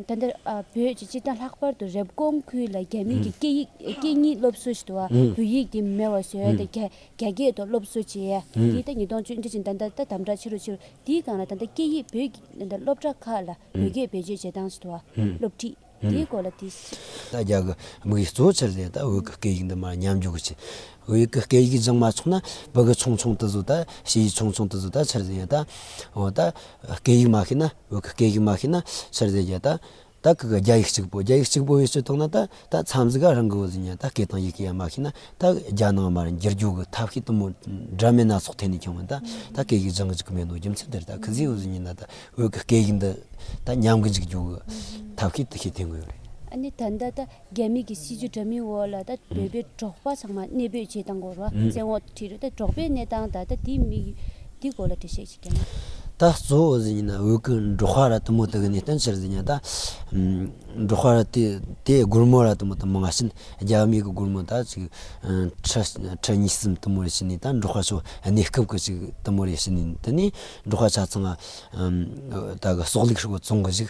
ད་ལྟ་བོད་ཀྱི་སྤྱི་དང་ལྷག་པར་དུ་རེབ་གོང་ཁུལ་ལ་རྒྱ་མིས་ཀྱི་སྐད་གཉིས་སློབ་གསོ་བྱེད་དུ་བོད་ཡིག་དེ་མེད་བར་བཟོས་ཏེ་རྒྱ་སྐད་དུ་སློབ་གསོ་བྱས། དེའི་ཐད་ཉིས་སྟོང་བཅུ་བདུན་ཕྱི་ཟླ་ཟླ་དང་པོ་དང་ད་ལྟ་ད་དམ་དྲག་ཆེ་རུ་ཕྱིན། དེའི་སྒང་ལ་ད་ལྟ་སྐད་ཡིག་བོད་ཀྱི་སློབ་གྲྭ་ཁག་ལ། བོད་སྐད་བེད་སྤྱོད་བྱེད་སྟངས་སུ་དུ་བ། སློབ་ཁྲིད། དེའི་སྐོར་ལ་དུས། ད་རྒྱ་གི་མིག་གིས་གཙོ་ཆེར་ལས་ད་བོད་ཀྱི་སྐད་ཡིག་འདི་མ་ཉམས་རྒྱུག་གི་བྱེད། བོད་ཀྱི་སྐད་ཡིག་སྦྱང་མ་ཆོག་ན་བོད་ཀྱི་ཆུང་ཆུང་དུ་བཟོ་ད་ཕྱི་ཡི་ཆུང་ཆུང་དུ་བཟོ་ད་ཕྱིར་ཡོད་ད། འོ་ད། སྐད་ཡིག་མ་ཤེས་ན་བོད་ཀྱི་སྐད་ཡིག་མ་ཤེས་ན་ཕྱིར་ཡོད་ད། ད་ཀི་གི་རྒྱ་ཡིག་གཅིག་པོ་རྒྱ་ཡིག་གཅིག་པོ་ཡོད་ཚོད་མཐོང་ན་ད། ད་མཚམས་འཛི་ག་རང་གི་འོ་ཟི་ཉན་ད་སྐད་དང་ཡི་གེ་ཡང་མ་ཤེས་ན་ད་རྒྱ་ནང་མར་འགྱུར་རྒྱུག་གི་ཐབས་ཤེས་དུ་མོ་འདྲ་མེད་སྣ་ཚོགས་ཐད་ནས་བྱུང་བ་ད་ད་སྐད་ཡིག་སྦྱང་གི་འཇུག་གི་མེད་འདུག་རྒྱུ་མཚན་དེར་ད་གི་འཛི་འོ་ཟི་ཉན་ད་ད་བོད་ཀྱི་སྐད་ཡིག་འདི་ད་ཉམས་གི་འཇུག་རྒྱུག་གི་ཐབས་ཤེས་དུ་ཤེས་ཐེང་གི་ཡོད་རེད། ཨ་ནི་ད་ལྟ་ད་རྒྱ་མི་གི་སྲིད་ཇུས་འདྲ་མིན་འོག་ལ་ད་བོད་པའི་འབྲོག་པ་ཚང་མ་གནས་སྤོས་བྱེད་དང་འགོར་བ་བཙན་འོག་དྲི་རོ། ད་འབྲོག་པའི་གནས་སྟངས་ད་ལྟ་འདི་མིག་འདི་སྐོར་ལ་འགྲེལ་བཤད་ཅིག་བྱེད་ན། ད་གཙོ་བོ་ཟེར་ཉིན་ན་འོད་ཀི་འབྲོག་ཁ་ར་དུ་མོ་དག་གི་གནས་སྟངས་ཅི་རེད་ཟེར་ཉིན་ད། འབྲོག་ཁ་ར་དེ་དེ་སྒོར་མོ་ར་དུ་མོ་དང་མ་ང་ཕྱིན་རྒྱ་མིག་གི་སྒོར་མོ་ད་ཅིག་ཁྲི་ཁྲི་གཉིས་གསུམ་དུ་མོ་རེ་ཕྱིན་ནས་ད་འབྲོག་ཁ་ཕྱོགས་གནས་སྐབས་ཀི་ཅིག་དུ་མོ་རེ་ཕྱིན་ནས་དེ་ནས་འབྲོག་ཁ་ཆ་ཚང་ད་གི་སོག་ལིག་ཧྲིལ་བོ་བཙོང་གི་ཅིག་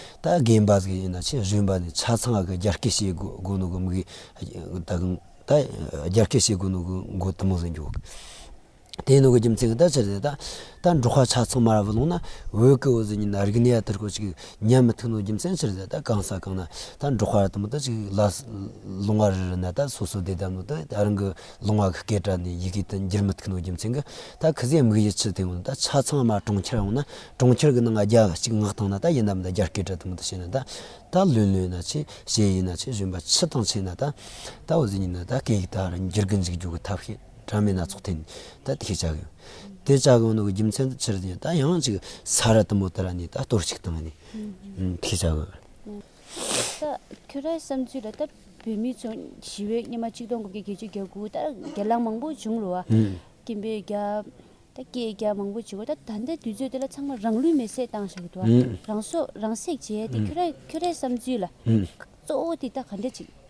ད་རྒན་པ་ཟིག་ཡིན་ན་ཆེས་གཞོན་པ་ནས་ཆ་ཚང་གི་རྒྱ་སྐད་བཤད་དགོས་དགོས་ནོ་གོ་མི་དགོས་ད་གིན་ད་རྒྱ་སྐད་བཤད་དགོས་ནོ་གོ་མགོ་དུ་མོ་ཟིག་འགྱོག་གི། དེ་ཡིན་ནོ་གོ་རྒྱུ་མཚན་གི་ད་ཆ་ཟིག་ད་ད་འབྲོག་ཁ་ཆ་ཚང་མ་ར་བུ་ལོང་ན་འོད་ཀི་འོད་ཟིག་ཡིན་ན་རིག་གནས་ཡ་དེར་སྐོར་ཅིག་ཉན་མི་ཐུབ་ནོ་རྒྱུ་མཚན་ཕྱིར་ཟིག་ད་གང་ས་གང་ན་ད་འབྲོག་ཁ་ར་དུ་མ་ད་ཅིག་ལ་ལོང་བ་རི་རུ་ན་ད་སོ་སོ་བསྡད་ད་ནོ་ད་རང་གི། ལུང་བ་གི་སྐད་སྒྲ་ནི་ཡི་གེ་དང་འགྱུར་མི་ཐུག་ནོ་རྒྱུ་མཚན་གྱི། ད་གི་ཟས་མིག་ཡིད་ཆུ་དེ་ཡོང་ན་ད་ཆ་ཚང་མ་གྲོང་ཁྱེར་ཡོང་ན་གྲོང་ཁྱེར་གྱི་ནང་རྒྱ་གཅིག་ངག་ཐང་ན་ད་ཡིན་ནམ་ད་རྒྱ་སྐད་སྒྲ་དུ་མ་ད་བཤད་ན་ད་ད་ལོས་ལོས་ན་ཆེ་ཞེས་ཡིན་ན་ཆེ་གཞོན་པ་ཕྱི་དང་ཕྱི་ན་ད་ད་འོ་ཟེར་ཉིན་ན་ད་སྐད་ཡིག་དག་རེ་འགྱུར་གྱི་འཇིག་རྒྱུ་གི་ཐབས་ཤེས་གྲ་མེད་སྣ་ཚོགས་ཐོན་ད་དེ་ཤེས་བྱ་གི་ཡོད་དེ་བྱ་གི་ཡོད་ནོ་གི་རྒྱུ་མཚན་ད་ཕྱིར་དེ་ཡང་ད་ཡང་ཅིག་ས་ར་དུ་མ་དེ་ར་ནས་ད་གཏོར་ཅིག་བཏང་ནས་དེ་ཤེས་བྱ་གི་ཡོད། ད་ཁྱོད་རའི་བསམ་ཚུལ་ལ་སྟབས་བུད་མི་ཚོ་ཞི་བའི་སྙེ་མ་གཅིག་སྟོང་དགུ་བརྒྱ་བརྒྱད་ཅུ་གྱ་དགུ་ད་རྒྱ་གླང་མང་པོ་བྱུང་རུ་བ། སྐྱེན་པའི་རྒྱ། ད་སྐད་རྒྱ་མང་པོ་བྱེད་དགོས་ད་ད་ལྟའི་དུས་ཚོད་འདི་ལ་ཚང་མ་རང་ལུས་མེ་བསྲེགས་བཏང་ཞེས་བུད་བ་རང་སྲོག་རང་བསྲེགས་བྱས་ཏེ་ཁྱོད་ར་ཁྱོད་རའི་བསམ་ཚུལ་ལ། གཙོ་བོ་དེ་ད་ག་འདྲ་ཅིག།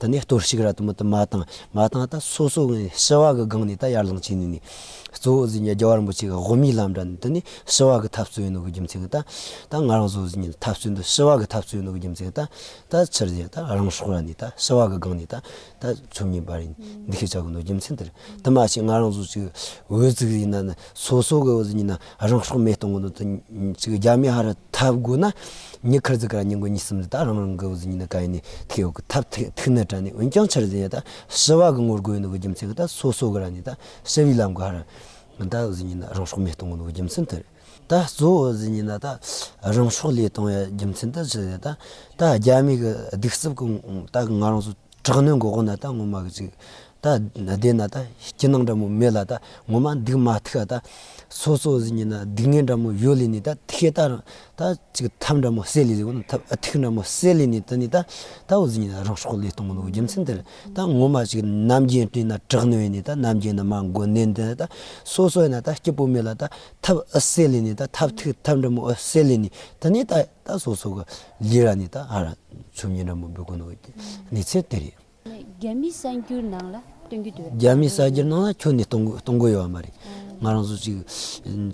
དེ་ནས་གཏོར་བཤིག་ར་དུ་མ་དུ་མ་དང་མ་དང་ད་སོ་སོ་ངས་ཞི་བ་གི་སྒང་ནས་ད་ཡར་ལངས་བྱས་ནས་ནས་གཙོ་བོ་གཟིགས་ཉལ་རྒྱ་བར་འབུ་ཆེ་ག་དབུ་མའི་ལམ་འདྲ་ནས་དེ་ནས་ཞི་བ་གི་འཐབ་རྩོད་ཡིན་ནོ་གི་རྒྱུ་མཚན་གི་ད་ད་ང་རང་ཚོ་གཟིགས་ཉལ་འཐབ་རྩོད་འདི་ཞི་བ་གི་འཐབ་རྩོད་ཡིན་ནོ་གི་རྒྱུ་མཚན་གི་ད་ད་ཕྱིར་རྗེས་ད་རང་སྲོག་ར་ནས་ད་ཞི་བ་གི་སྒང་ནས་ད་ད་ཚུར་ཉེ་བར་ཡིན་འདི་ཤེས་བྱ་དགོས་ནོ་རྒྱུ་མཚན་དེ་རེད་དེ་མ་ཤེས་ང་རང་ཚོ་ཅིག་འོས་ཚིག་ཡིན་ན་ནི་སོ་སོ་གི་གཟིགས་ཉེ་ན་རང་སྲོག་མེད་གཏོང་གི་འདུག་རྒྱ་མི་ཧ་ར་ཐ་དགོས་ན་ཉི་ཁར་ཟིག་ག་ར་ཉིན་གོ་ཉིན་གསུམ་ཟིག་ད་རང་རང་གི་འུ་ཟིག་ཉིན་ན་ག་ཡིན་ནི་ཐིག་ཡོག་གི་ཐབས་ཐིག་ཐིག་ནི་དྲ་ནི་འོན་ཀྱང་འཆར་ཟིན་ཡ་ད་ཞི་བ་གི་ངོ་རྒོལ་ནི་གི་རྒྱུ་མཚན་གི་ད་སོ་སོ་གི་ར་ནི་ད་ཞི་བའི་ལམ་གི་ཧ་ར་ད་འུ་ཟིག་ཉིན་ན་རང་སྲོག་མེད་གཏོང་གི་འདུག་གི་རྒྱུ་མཚན་དེ་རེད་ད་གཙོ་བོ་འུ་ཟིག་ཉིན་ན་ད་རང་སྲོག་ལས་གཏོང་ཡ་རྒྱུ་མཚན་ད་ཞི་བ་ཡ་ད་ད་རྒྱ་མི་གི་སྡིག་སྲིབ་གི་ད་ང་རང་ཚོ། དྲག་གནོན་འགོག་ན་ད་ངོ་མ་གི་ཅིག། ད་བདེ་ན་ད་སྐྱིད་སྣང་འདྲ་མོ་མེད་ལ་ད་ངོ་མ་འདུག་མ་ཐུག་ག་ད། སོ་སོ་ཟིག་ཉིད་ན་སྡུག་བསྔལ་འདྲ་མོ་ཡོད་ལེ་ནི་ད་ཐིག་ག་ད། ད་ཅིག་ཐབས་འདྲ་མོ་སད་ལེ་ཟིག་ཨོ་ཐབས་ཨ་ཐིག་འདྲ་མོ་སད་ལེ་ནི་ད་ནི་ད། ད་འོ་ཟིག་ཉིད་ན་རང་སྲོག་ལས་སྟོང་ལོ་རྒྱུ་མཚན་དེར་ད་ངོ་མ་ཅིག། རྣམ་རྒྱལ་སྤྲིན་ན་དྲག་གནོན་ནི་ད་རྣམ་རྒྱལ་ན་མ་མགོ་ནན་ཏན་ད། སོ་སོ་ཡིན་ན་ད་སྐྱིད་པོ་མེད་ལ་ད། ཐབས་ཨ་སད་ལེ་ནི་ད་ཐབས་ཐིག་ཐབས་འདྲ་མོ་ཨོ་སད་ལེ་ནི་ད་ནི་ད། ད་སོ་སོ་ག་ལི་ར་ནི་ད་ཨ་ར་ཆུ་མཉེན་ར་མོ་འབུ་གུ་ནོ་གི་གནས་ཚད་དེ་རེད། རྒྱ་མི་གསར་འགྱུར་ནང་ལ་སྟོན་གྱི་འདུག་རྒྱ་མི་གསར་འགྱུར་ནང་ལ་ཁྱོད་ནི་གཏོང་གཏོང་གོ་ཡོད་པ་མ་རེད། ང་རང་ཚོ་ཅིག་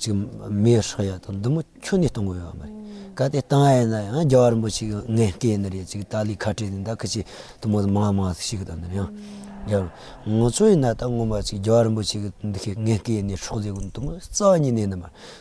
ཅིག་མེ་ཧྲ་ཡ་དང་འདུ་མོ་ཁྱོད་ནི་གཏོང་གོ་ཡོད་པ་མ་རེད། ག་དེ་གཏང་ཨེ་ན་ཡང་རྒྱ་བར་མོ་ཅིག་ངན་སྐད་ནི་རེད་ཅིག་ཏཱ་ལི་ཁ་བྲལ་ནི་ད་ཁ་ཆེ་དུ་མོ་དང་མང་མང་ཞིག་དང་ནི་ཡང་རྒྱ་བར། ང་ཚོ་ཡིན་ན་ད་ངོ་མ་ཅིག་རྒྱ་བར་མོ་ཅིག་འདི་ཁའི་ངན་སྐད་ནི་ཧྲོག་ལེ་གུ་འདུ་མོ་རྩ་བ་ཉིད་ནས་ནི་མ་རེད།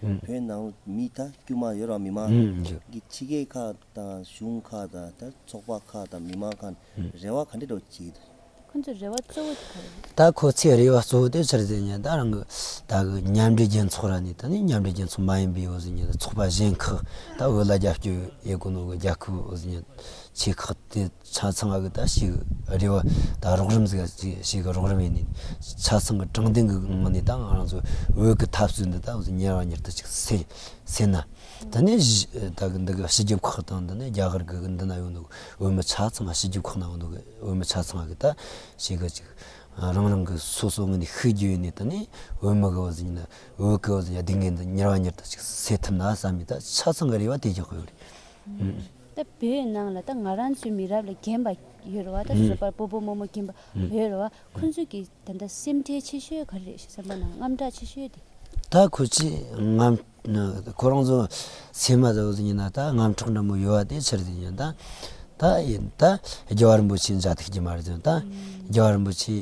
བོད་ནང་མི་དང་དཀྱུས་མ་ཡོད་རང་མི་མང་གི་ཁྲི་ཀའི་ཁག་དང་གཞུང་ཁག་དང་དང་ཚོགས་པ་ཁག་དང་མི་མང་ཁག་རེ་བ་ག་འདྲེ་འགྲོ་བྱེད་ཀྱི་འདུག། ཁོ་ཚོའི་རེ་བ་གཙོ་བོ་དེ་ག་རེ་རེད། ད་ཁོ་ཚོའི་རེ་བ་གཙོ་བོ་དེ་ཕྱིར་རྫས་ཉིད་ད་རང་གི་ད་གི་མཉམ་འབྲེལ་རྒྱལ་ཚོགས་ར་ནི་ད་ནི་མཉམ་འབྲེལ་རྒྱལ་ཚོགས་མ་ཡིན་པའི་འོ་ཟི་ཉིད་ད་ཚོགས་པ་གཞན་ཁག་ད་འོས་ལ་རྒྱབ་སྐྱོར་ཡས་གོ་ནོ་གི་རྒྱ་ཁུག་འོ་ཟི་ཉིད་ཆེ་ཁག་དེ་ཆ་ཚང་གི་ད་ཞིག་རེད་བ་ད་རོགས་རམ་ཟེར་གི་ཞིག་གི་རོགས་རམ་ཡིན་ནིད། ཆ་ཚང་གི་དྲང་བདེན་གི་ངང་ནས་ད་ང་རང་ཚོ་འོས་གི་ཐབས་སུད་འདི་ད་ཉེར་བ་ཉེར་ད་ཅིག་སེ་ན། ད་ནི་འདི་གི་སྤྱི་ཁྱབ་ཁག་དང་འདི་ནི་རྒྱ་གར་གི་འདི་ན་ཡོད་འདུག་འོས་མི་ཆ་ཚང་གི་སྤྱི་ཁྱབ་ཁག་ན་ཡོད་འདུག་འོས་མི་ཆ་ཚང་གི་ད་ཞིག་གི་ཅིག་རང་རང་གི་སོ་སོ་ངང་ནས་ཤི་རྒྱུ་ཡིན་ནིད་ད་ནི་འོས་མི་གི་བ་ཟིན་ན་འོས་གི་བ་ཟིན་ཡ་འདི་ངས་འདི་ཉེར་བ་ཉེར་ད་ཅིག་སེ་ཐུབ་ན་བསམ་མི་ད་ཆ་ཚང་གི་རེ་བ་དེ་རྒྱག་གི་ཡོད་རེད། ད་བོད་ནང་ལ་ད་ང་རང་ཚོའི་མི་རབས་ལ་རྒན་པ་ཡོད་རེད་བ་ད་བཟོད་པར་པོ་པོ་མོ་མོ་རྒན་པ་ཡོད་རེད་བ་ཁོ་ཚོས་ཀྱི་ད་ད་སེམས་ཁྲལ་ཆེ་ཤོས་ག་རེ་རེད་ཤེ་སེམས་པ་ནང་རྔམ་སྐྲག་ཆེ་ཤོས་དེ། ད་ཁོ་ཚོས་རྔམ། ཁོ་རང་ཚོ་ཚད་མ་ད་བཟོད་ཀྱི་ན་ད་རྔམ་སྐྲག་འདྲ་མོ་ཡོད་བ་དེའི་ཕྱིར་དེ་ཡིན་ད། ད་ཡིན་ད་རྒྱལ་བ་རིན་པོ་ཆེའི་མཛའ་ཐུགས་ཀྱི་མ་རེད་ད། རྒྱལ་བ་རིན་པོ་ཆེ་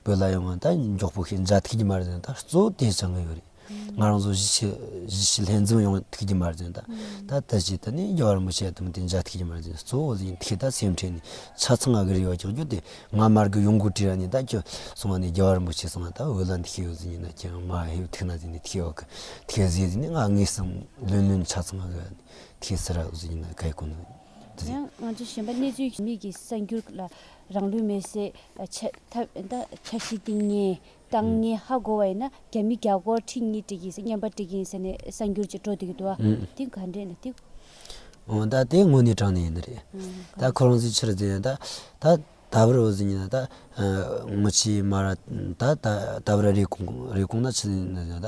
བོད་ལ་ཡོང་བ་ད་མགྱོགས་པོ་ཤིག་མཛའ་ཐུགས་ཀྱི་མ་རེད་ད་གཙོ་བོ་དེ་ཆགས་ཀྱི་ཡོད་རེད། ང་རང་ཚོ་གཞིས་བྱེས་ལྷན་འཛོམས་ཡོང་ཐུགས་ཀྱི་མར་ཟློས། ད་ལྟ་ཇི་ལྟར་ནས་རྒྱ་གར་མི་བྱེད་དམ་དེ་འཇའ་ཐུགས་ཀྱི་མར་ཟློས་གཙོ་བོ་ཡིན་དེ་ད་སེམས་ཁྲལ་ནི་ཆ་ཚང་ཨ་ཀི་རི་བ་ཀྱག་ཀྱོག་དེ་ང་མར་གི་ཡོང་གུ་དྲི་ར་ནི་ད་ཁྱོད་སོང་བ་ནས་རྒྱ་གར་མི་བྱེད་སོང་ང་ད་འོད་ལ་འདི་ཁྱེད་ཡོད་ཟིན་ཡིན་ན་ཁྱེད་མ་ཧེ་ཐུགས་ན་ཟིན་ནི་ཐིག་ཨོ་ཀི་ཐིག་ཟེར་ཟིན་ནི་ང་ངའི་སེམས་ལོན་ལོན་ཆ་ཚང་ཨ་ཀི་ར་ནི་ཐིག་ཟེར་ར་ཟིན་ཡིན་ན་ག་ཡི་ཀུ་ནུ་ཟེར། ཡང་ང་ཚོ་གཞན་པ་གནས་ཚུལ་གྱི་མིག་གི་གསར་འགྱུར་ལ་རང་ལུས་མེར་སྲེག་ཆ་ཤས་སྟེང་ཉེན་བཏང་ནས་ཧ་གོ་བ་ཡིན་ན་རྒྱ་མི་རྒྱ་སྒོར་ཁྲི་གཉིས་སྤྲད་ཀྱིན་སེ་སྙམ་པ་སྤྲད་ཀྱིན་ཟེར་ནས་གསར་འགྱུར་གྱི་དྲོ་སྡེ་གི་དུ་བ་དེ་ག་འདྲས་ན་ཐིག། འོ་ད་དེ་དངོས་གནས་དྲང་གནས་ཡིན་ནི་རེད། ད་ཁོ་རང་ཚོའི་ཕྱིར་དེ་ད་ད་ད་བར་འོ་ཟེར་གྱིན་ན་ད་ངོ་ཆེས་མ་ར་ད་ད་ད་བར་རེ་སྐོང་རེ་སྐོང་ན་ཕྱི་ན་ད་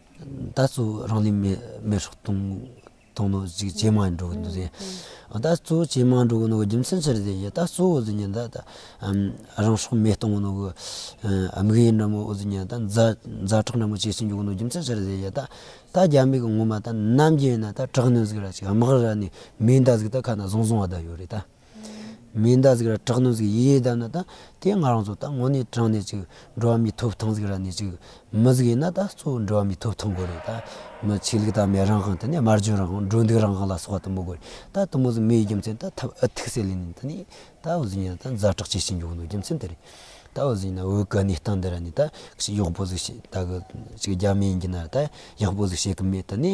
ད་གཟོད་རང་ལུས་མེར་སྲེག་གཏོང་ནོ་ཅེས་ཇེ་མང་དུ་འགྲོ་གི་འདུག་ད་གཟོད་ཇེ་མང་དུ་འགྲོ་གི་འདུག་རྒྱུ་མཚན་ཅི་རེད་ཟེར་ན་ད་གཟོད་ཟེར་ན་ད་རང་སྲོག་མེ་གཏོང་གི་འདུག་གུ་དམིགས་ཡུལ་འདྲ་མོ་ཟེར་ན་ད་མཛའ་གྲོགས་འདྲ་མོ་བྱེད་བཞིན་འགྱོ་གི་འདུག་རྒྱུ་མཚན་ཅི་རེད་ཟེར་ན་ད་ད་རྒྱ་མི་གི་ངོ་མ་ད་ནམ་རྒྱུན་ན་ད་དྲག་གནོན་ཟིག་ར་ཅིག་དམག་ར་ནི་མི་འདའ་ཟིག་ད་ཁ་ན་བཟང་བཟང་བ་ད་ཡོད་རེད་ད། མིའི་འདའ་གཟིགས་ར་དྲག་ནོར་གཟིགས་ཡེ་ཡེ་འདའ་ན་ད་དེ་ང་རང་ཚོ་ད་ངོ་ནས་དྲང་ནས་ཅིག་འགྲོ་བ་མིའི་ཐོབ་ཐང་གཟིགས་ར་ནས་ཅིག་མི་གཟིགས་ཡིན་ན་ད་གཙོ་བོ་འགྲོ་བ་མིའི་ཐོབ་ཐང་དགོས་རེད་ད་མི་ཆོས་ལུགས་དར་མའི་རང་དབང་དེ་ནས་དམར་གཞུང་རང་དབང་འགྲོ་འདུག་རང་དབང་ལ་སོགས་བ་དུ་མ་དགོས་རེད་ད་དུ་མོ་ཟིག་མི་ཡི་རྒྱུ་མཚན་ད་ཐབས་ཨི་ཐུག་སེ་ལེ་ནི་ད་ནི་ད་འོ་ཟིག་ཡིན་ན་ད་མཛའ་གྲགས་ཇི་བཞིན་ཡོང་འདུག་རྒྱུ་མཚན་དེ་རེད་ད་འོ་ཟིག་ཡིན་ན་འོའི་ག་ནས་ལྟ་འདི་ར་ནི་ད་གཞི་གཡོག་པོ་ཟིག་བྱེད་ད་གི་ཅིག་རྒྱ་མི་ཡིན་གྱི་ན་ད་གཡག་པོ་ཟིག་བྱེད་གི་མེད་ད་ནི།